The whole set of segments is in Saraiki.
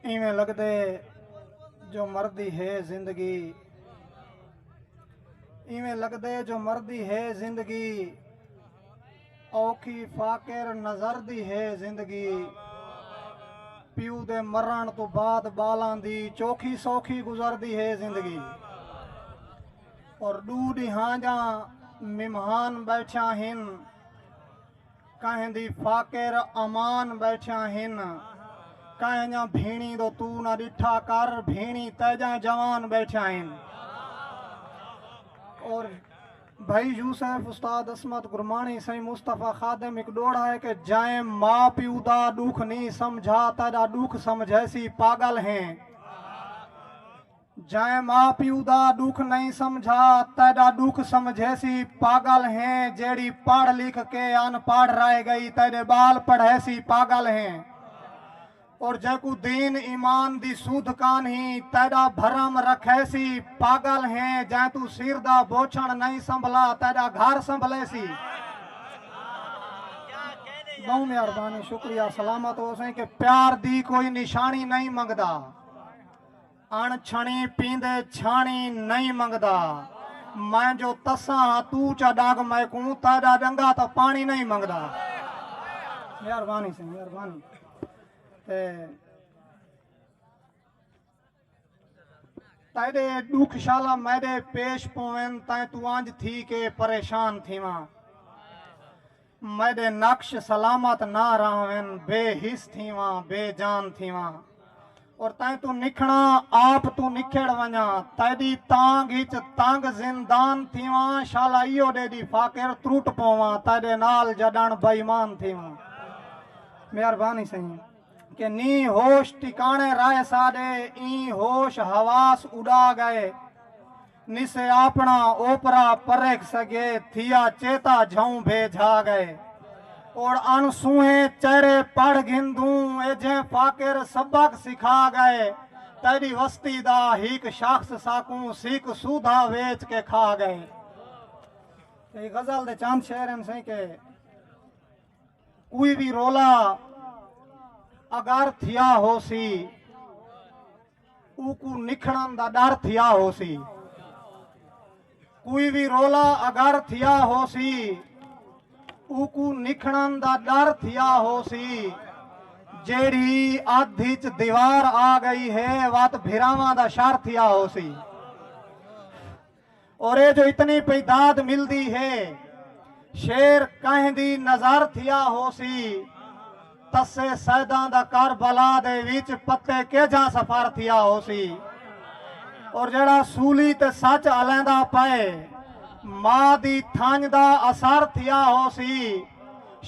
اینویں لگدے جو مردی ہے زندگی اینویں لگدے جو مردی ہے زندگی اوکھی فاقر نظر دی ہے زندگی پیو دے مرن تو بعد بالاں دی چوکھی سوکھی گزر دی ہے زندگی اور ڈو ڈیہاں جاں ممہان بیٹھیاں ہن کہیں دی فاقر امان ٻیٹھیاں ہن کہیں جاں بھینڑی دو توں نہ ݙٹھا کر بھینڑی تیجاں جوان ٻیٹھیاں ہن اور بھائی یوسف استاد عصمت گرمانی سائیں مصطفی خادم ایک ڈوڑا ہے کہ جائیں ماں پیو دا ڈوکھ نہیں سمجھا تیڈا ڈوکھ سمجھے سی پاگل ہیں جئیں ماء پیو دا ڈکھ نئیں سمجھا تیڈا ڈکھ سمجھیسی پاگل ہیں جیڑھی پڑھ لکھ کے ان پڑھ رہ گئی تیڈے بال پڑھیسی پاگل ہیں اور جیکوں دین ایمان دی سودھ کانہی تیڈا بھرم رکھیسی پاگل ہیں جئیں توں سر دا بوچھن نئیں سنبھلا تیڈا گھر سنبھلیسی بہوں مہربانی شکریہ سلامت ہوسیں کہ پیار دی کوئی نشانی نئیں منگدا۔ اݨ چھݨی پیندے چھاݨی نئیں منگدا۔ میں جو تساں ہاں توں چا ݙنگ میکوں تاݙا ݙنگا تاں پاݨی نئیں منگدا۔ مہربانی سئیں مہربانی تے تیݙے ݙکھ شالا میݙے پیش پوون تیں توں انج تھی کے پریشان تھیواں۔ میݙے نقش سلامت نہ رہون بے حس تھیواں بے جان تھیواں اور تیں توں نکھڑاں آپ توں نکھڑ ونڄاں تیݙی تانگھ اچ تنگ زندان تھیواں شالا ایہو ݙے ݙی فاقر تروٹ پوواں تیݙے نال جݙݨ بے ایمان تھیواں مہربانی سئیں کہ نی ہوش ٹکاݨے رائے ساݙے ایں ہوش حواس اݙا ڳئے۔ نسے آپݨا اوپرا پرکھ سگے تھیا چیتا جھئوں بھے جھا گئے اوڑ ان سوہیں چہرے پڑھ گھن دوں اے جھیں فاقر سبق سکھا گئے تیڈی وستی دا ہیک شخص ساکوں سیک سودھا ویچ کے کھا گئے اے غزل دے چاند شعر ہیں سیں کہ کوئی بھی رولا اگر تھیا ہو سی اوکوں نکھڑن دا ڈر تھیا ہوسی۔ کوئی وی رولا اگر تھیا ہوسی اوکوں نکھڑن دا ڈر تھیا ہوسی۔ جیڑھی ادھ اچ دیوار آ گئی ہے وت بھراواں دا شر تھیا ہوسی۔ اور اے جو اتنی پئی داد ملدی ہے شعر کہیں دی نظر تھیا ہوسی تسے سیداں دا کربلا دے وچ پتے کیجھاں سفر تھیا ہوسی اور جیڑا سولی تے سچ الیندا پئے ماء دی تھنج دا اثر تھیا ہوسی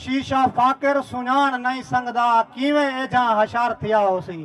شیشہ فاقر سنجاݨ نئیں سنگدا کیویں ایجھاں حشر تھیا ہوسی۔